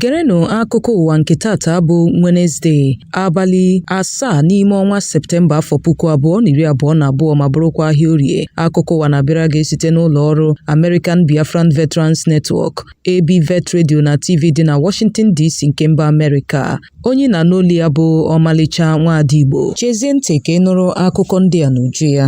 gerenụ akụkọ ụwa nke taata bụ Wenezdee abalị asaa n'ime ọnwa Septemba afọ puku abụọ na iri abụọ na abụọ ma bụrụkwa ahịa orie akụkọ ụwa na-abịara gị site n'ụlọ ọrụ American Biafran Veterans Network ABVET Radio na TV dị na Washington DC nke mba Amerịka onye na n'olu ya bụ ọmalịcha nwaada Igbo chezie ntị ka ị nụrụ akụkọ ndị a n'uju ya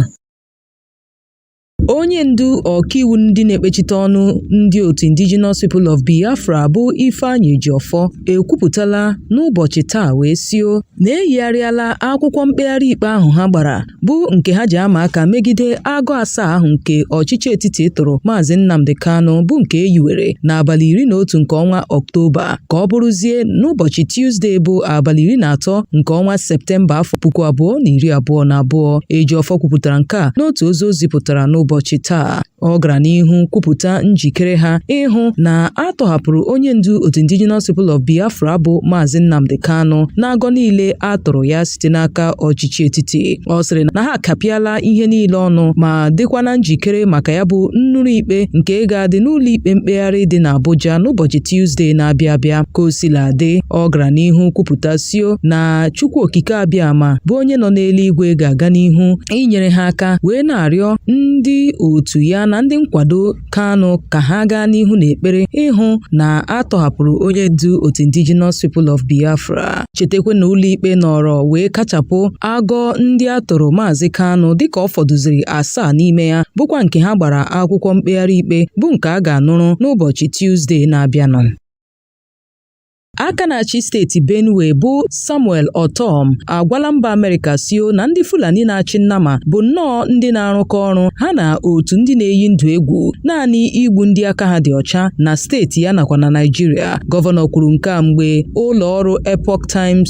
onye ndu ọkaiwu ndị na-ekpechite ọnụ ndị otu indigenous people of biafra bụ ifeanyi ejiofor ekwupụtala n'ụbọchị taa wee sio na eyigharịala akwụkwọ mkpegharị ikpe ahụ ha gbara bụ nke ha ji ama aka megide agọ asaa ahụ nke ọchịchị etiti tụrụ maazị Nnamdi Kanu bụ nke e yiwere n'abalị iri na otu nke ọnwa Ọktoba ka ọ bụrụzie n'ụbọchị Tuzdee bụ abalị iri na atọ nke ọnwa Septemba afọ puku abụọ na iri abụọ na abụọ Ejiofor kwupụtara nke a n'otu ozi o zipụtara n'ụbọchị taa Ọ gara n'ihu kwupụta njikere ha ịhụ na a tọhapụrụ onye ndu otu Indigenous People of Biafra bụ Maazị Nnamdi Kanu n'agọ niile a tụrụ ya site n'aka ọchịchị etiti. Ọ sịrị na ha akapịala ihe niile ọnụ ma dịkwa na njikere maka ya bụ nnụrụ ikpe nke ga-adị n'ụlọ ikpe mkpegharị dị n'Abuja n'ụbọchị Tuzdee na-abịa abịa. Ka o sila dị, ọ gara n'ihu kwupụta sio na Chukwu Okike Abịama bụ onye nọ n'eluigwe ga-aga n'ihu inyere ha aka wee na-arịọ ndị otu ya na ndị nkwado Kanu ka ha gaa n'ihu n'ekpere ịhụ na a tọhapụrụ onye ndu otu Indigenous People of Biafra chetakwa na ụlọikpe nọrọ wee kachapụ agọ ndị a tụrụ Maazị Kanu dịka ọ fọdụziri asaa n'ime ya bụkwa nke ha gbara akwụkwọ mkpegharị ikpe bụ nke a ga-anụrụ n'ụbọchị Tuzdee na-abịanụ aka na-achị steeti benue bụ samuel ortom agwala mba amerịka sio na ndị fulani na-achị nnama bụ nnọọ ndị na-arụkọ ọrụ ha na otu ndị na-eyi ndụ egwu naanị igbu ndị aka ha dị ọcha na steeti ya nakwa na naịjirịa gọvanọ kwuru nke a mgbe ụlọ ọrụ epoch times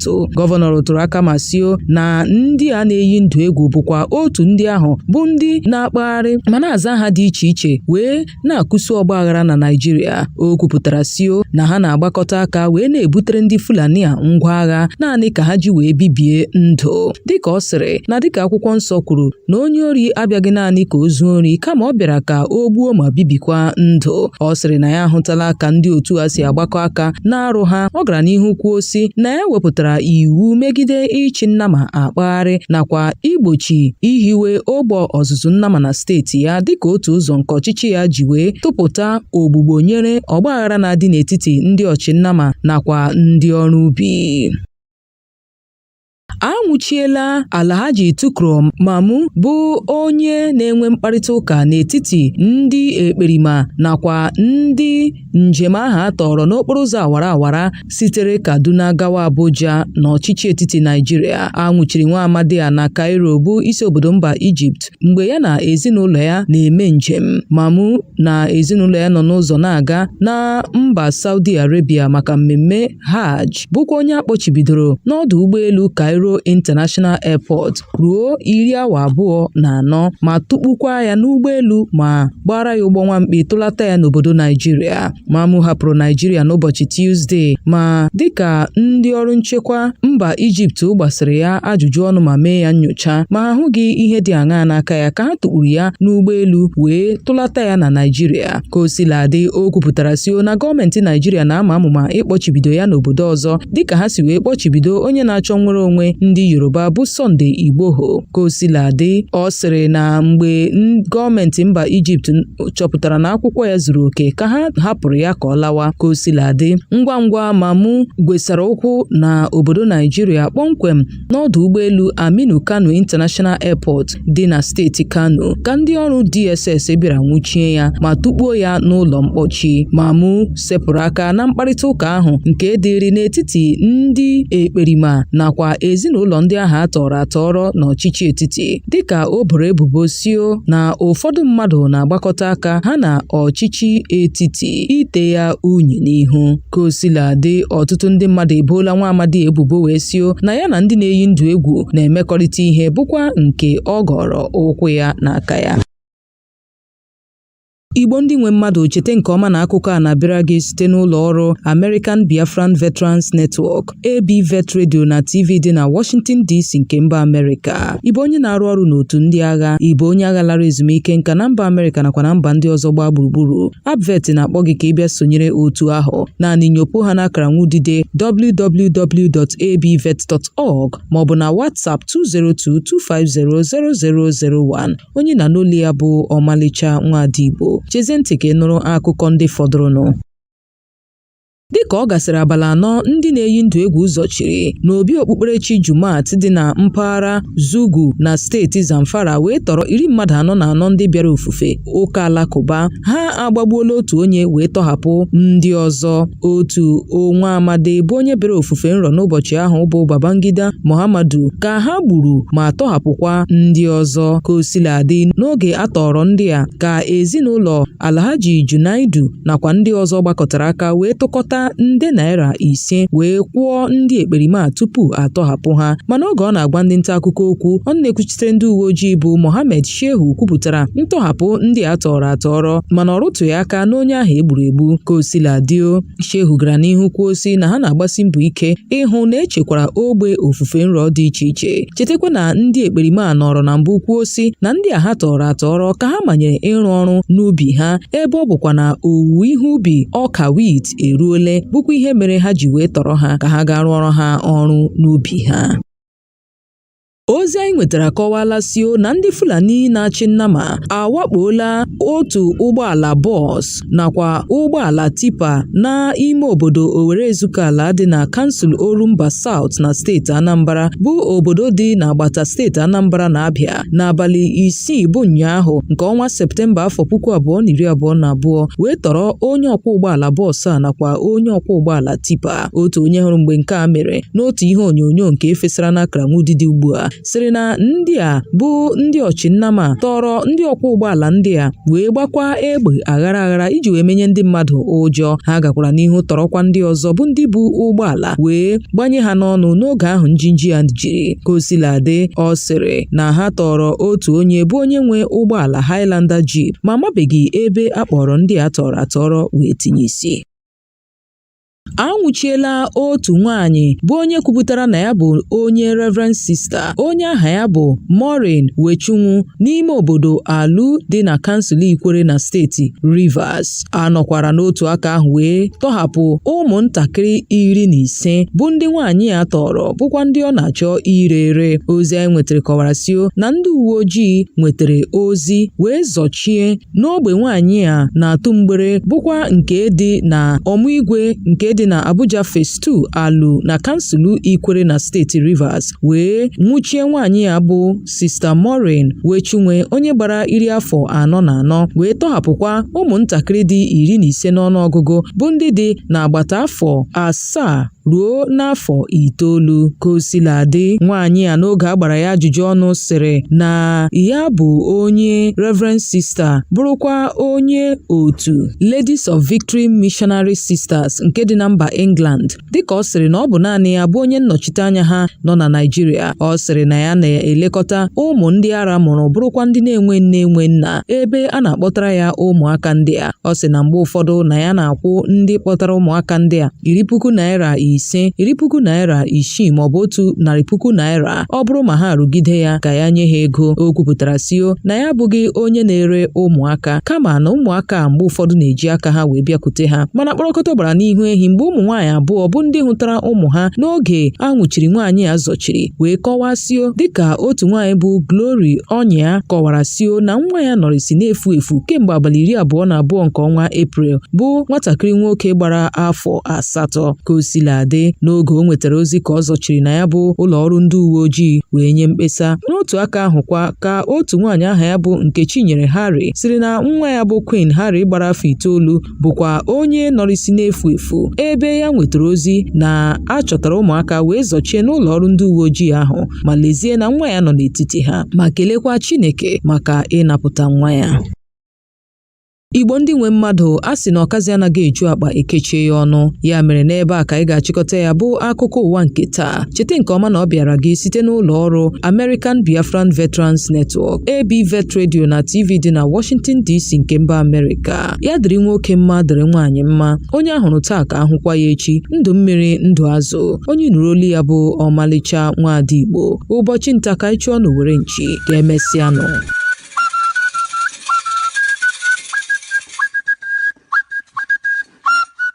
atụ gọvanọ rụtụrụ aka ma sio na ndị a na-eyi ndụ egwu bụkwa otu ndị ahụ bụ ndị na-akpagharị ma na-aza aha dị iche iche wee na-akụsu ọgba aghara na Naịjirịa o kwupụtara sio na ha na-agbakọta aka wee na-ebutere ndị Fulani a ngwa agha naanị ka ha ji wee bibie ndụ dịka ọ sịrị na dịka akwụkwọ nsọ kwuru na onye ori abịaghị naanị ka o zuo ori kama ọ bịara ka o gbuo ma bibikwa ndụ ọ sịrị na ya ahụtala ka ndị otu a si agbakọ aka n'arụ ha ọ gara n'ihu kwuo sị na ya wepụtara iwu megide ịchị nnama akpagharị nakwa igbochi ihiwe ogbe ọzụzụ nnama na steeti ya dịka otu ụzọ nke ọchịchị ya ji wee tụpụta ogbugbo nyere ọgbaghara na-adị n'etiti ndị ọchịnnama nakwa ndị ọrụ ubi a nwụchiela Alhaji Tukur Mamu bụ onye na-enwe mkparịta ụka n'etiti ndị ekperima nakwa ndị njem ahụ a tọrọ n'okporo ụzọ awara awara sitere Kaduna gawa Abuja n'ọchịchị etiti Naịjirịa. A nwụchiri nwa amadi a na Cairo bụ isi obodo mba Ijipt mgbe ya na ezinụlọ ya na-eme njem. Mamu na ezinụlọ ya nọ n'ụzọ na-aga na mba Saudi Arabia maka mmemme Hajj bụkwa onye a kpọchibidoro n'ọdụ ụgbọelu Cairo International Airport ruo iri awa abụọ na anọ ma tụkpukwa ya n'ụgbọelu ma gbara ya ụgbọ nwamkpi tụlata ya n'obodo Naijiria. Mamu hapụrụ Naijiria n'ụbọchị Tuzdee ma dịka ndị ọrụ nchekwa mba Ijipt gbasịrị ya ajụjụ ọnụ ma mee ya nyocha ma ahụghị ihe dị aṅaa n'aka ya ka ha tụkpuru ya n'ụgbọelu wee tụlata ya na Naijiria. ka o sila dị o kwupụtara sio na gọọmenti naijiria na-ama amụma ịkpọchibido ya n'obodo ọzọ dịka ha si wee kpọchibido onye na-achọ nnwere onwe ndị yoruba bụ Sunday Igboho ka o sila dị ọ sịrị na mgbe gọọmenti mba ijipt chọpụtara na akwụkwọ ya zuru oke ka ha hapụrụ ya ka ọ lawa ka o sila dị ngwa ngwa Mamu gwesara ụkwụ na obodo naijiria kpọmkwem n'ọdụ ụgbọelu Aminu Kano International Airport dị na steeti Kano ka ndị ọrụ DSS bịara nwụchie ya ma tụkpuo ya n'ụlọ mkpọchi Mamu sepụrụ aka na mkparịta ụka ahụ nke dịrị n'etiti ndị ekperima nakwa ezinụlọ ndị ahụ a tọrọ atọrọ na ọchịchị etiti dịka o boro ebubo sio na ụfọdụ mmadụ na-agbakọta aka ha na ọchịchị etiti ite ya unyi n'ihu ka o sila dị ọtụtụ ndị mmadụ eboola nwa amadi a ebubo wee sio na ya na ndị na-eyi ndụ egwu na-emekọrịta ihe bụkwa nke ọ gọrọ ụkwụ ya na aka ya igbo ndị nwe mmadụ chete nke ọma na akụkọ a na-abịara gị site n'ụlọ ọrụ American Biafran Veterans Network ABVET Radio na TV dị na Washington DC nke mba Amerịka. Ị bụ onye na-arụ ọrụ n'otu ndị agha, ị bụ onye agha lara ezumike nka na mba Amerịka nakwa na mba ndị ọzọ gbaa gburugburu. ABVET na-akpọ gị ka ị bịa sonyere otu ahụ. Naanị nyopụ ha n'akara nwudide www.abvet.org maọbụ na WhatsApp 202-250-0001. Onye ị na-anụ olu ya bụ Ọmalịcha Nwada Igbo. Chezie ntị ka ị nụrụ akụkọ ndị fọdụrụnụ. dịka ọ gasịrị abalị anọ ndị na-eyi ndụ egwu zọchiri n'obi okpukperechi Jumat dị na mpaghara Zugu na steeti Zamfara wee tọrọ iri mmadụ anọ na anọ ndị bịara ofufe ụka alakụba ha agbagbuola otu onye wee tọhapụ ndị ọzọ otu nwa amadi bụ onye bịara ofufe nrọ n'ụbọchị ahụ bụ Babangida Muhammadu ka ha gburu ma tọhapụkwa ndị ọzọ ka o sila dị n'oge a tọrọ ndị a ka ezinụlọ Alhaji Junaidu nakwa ndị ọzọ gbakọtara aka wee tụkọta nde naira ise wee kwụọ ndị ekperima a tupu a tọhapụ ha mana oge ọ na-agwa ndị nta akụkọ okwu ọnụ na-ekwuchitere ndị uwe ojii bụ Mohammed Shehu kwupụtara ntọhapụ ndị a tọrọ atọrọ mana ọ rụtụghị aka n'onye ahụ e gburu egbu ka o sila dị Shehu gara n'ihu kwuo sị na ha na-agbasi mbọ ike ịhụ na e chekwara ogbe ofufe nro dị iche iche chetakwa na ndị ekperima a nọrọ na mbụ kwuo sị na ndị a ha tọrọ atọrọ ka ha manyere ịrụ ọrụ n'ubi ha ebe ọ bụkwa na owuwe ihe ubi ọka wit eruole bụkwa ihe mere ha ji wee tọrọ ha ka ha gaa rụọrọ ha ọrụ n'ubi ha ozi anyị nwetara akọwala sio na ndị Fulani na-achị nnama awakpola otu ụgbọala bọs nakwa ụgbọala tipa na ime obodo Owerre Ezukala dị na kansụl Orumba South na steeti Anambra bụ obodo dị n'agbata steeti Anambra na Abịa n'abalị isii bụ ụnyaahụ nke ọnwa Septemba afọ puku abụọ na iri abụọ na abụọ wee tọrọ onye ọkwọ ụgbọala bọs a nakwa onye ọkwọ ụgbọala tipa otu onye hụrụ mgbe nke a mere n'otu ihe onyonyo nke e fesara n'akọrọngwa ụdịdị ugbu a sịrị na ndị a bụ ndị ọchịnnama tọrọ ndị ọkwọ ụgbọala ndị a wee gbakwa egbe aghara aghara iji wee menye ndị mmadụ ụjọ ha gakwara n'ihu tọrọkwa ndị ọzọ bụ ndị bu ụgbọala wee gbanye ha n'ọnụ n'oge ahụ njinji ya jiri ka o sila dị ọ sịrị na ha tọrọ otu onye bụ onye nwe ụgbọala Highlander Jeep ma amabeghị ebe a kpọrọ ndị a tọrọ atọrọ wee tinye isi a nwụchiela otu nwaanyị bụ onye kwupụtara na ya bụ onye Reverend Sister onye aha ya bụ Maureen Wechinwu n'ime obodo Aluu dị na kansụl Ikwerre na steeti Rivers a nọkwara n'otu aka ahụ wee tọhapụ ụmụntakịrị iri na ise bụ ndị nwaanyị a tọrọ bụkwa ndị ọ na-achọ ire ere ozi anyị nwetara kọwara sio na ndị uwe ojii nwetara ozi wee zọchie n'ogbe nwaanyị a na-atụ mgbere bụkwa nke dị na Omuigwe nke dị na Abuja Phase 2 Aluu na kansụl Ikwerre na steeti Rivers wee nwụchie nwaanyị a bụ Sister Maureen Wechinwu onye gbara iri afọ anọ na anọ wee tọhapụkwa ụmụntakịrị dị iri na ise n'ọnụọgụgụ bụ ndị dị n'agbata afọ asaa ruo n'afọ itoolu ka o sila dị nwaanyị a n'oge a gbara ya ajụjụ ọnụ sịrị na ya bụ onye Reverend Sister bụrụkwa onye otu Ladies of Victory Missionary Sisters nke dị na mba England dịka ọ sịrị na ọ bụ naanị ya bụ onye nnọchite anya ha nọ na Naịjirịa ọ sịrị na ya na-elekọta ụmụ ndị ara mụrụ bụrụkwa ndị na-enwe nne enwe nna ebe a na-akpọtara ya ụmụaka ndị a ọ sị na mgbe ụfọdụ na ya na-akwụ ndị kpọtara ụmụaka ndị a iri puku naira ise iri puku naira isii maọbụ otu narị puku naira ọ bụrụ ma ha rụgide ya ka ya nye ha ego o kwupụtara sio na ya abụghị onye na-ere ụmụaka kama na ụmụaka mgbe ụfọdụ na-eji aka ha wee bịakwute ha mana kpọrọkọta gbara n'ihu ehi mgbe ụmụ nwaanyị abụọ bụ ndị hụtara ụmụ ha n'oge a nwụchiri nwaanyị a zọchiri wee kọwaa sio dịka otu nwaanyị bụ Glory Onyia kọwara sio na nwa ya nọrịsị na-efu efu kemgbe abalị iri abụọ na abụọ nke ọnwa Eprel bụ nwatakịrị nwoke gbara afọ asatọ ka o sila dị n'oge o nwetara ozi ka ọ zọchiri na ya bụ ụlọ ọrụ ndị uwe ojii wee nye mkpesa n'otu aka ahụkwa ka otu nwaanyị aha ya bụ Nkechinyere Harry siri na nwa ya bụ Queen Harry gbara afọ itoolu bụkwa onye nọrịsị na-efu efu ebe ya nwetara ozi na a chọtara ụmụaka wee zọchie n'ụlọ ọrụ ndị uwe ojii ahụ ma lezie na nwa ya nọ n'etiti ha ma kelekwa Chineke maka ịnapụta nwa ya Igbo ndị nwe mmadụ a sị na ọkazi anaghị eju akpa e kechie ya ọnụ ya mere n'ebe a ka anyị ga-achịkọta ya bụ akụkọ ụwa nke taa cheta nke ọma na ọ bịaara gị site n'ụlọ ọrụ American Biafran Veterans Network ABVET Radio na TV dị na Washington DC nke mba Amerịka ya dịrị nwoke mma dịrị nwaanyị mma onye a hụrụ taa ka a hụkwa ya echi ndụ mmiri ndụ azụ onye nụrụ olu ya bụ ọmalịcha nwaada igbo ụbọchị nta ka anyị chụọ n'owere nchi ka emesịanụ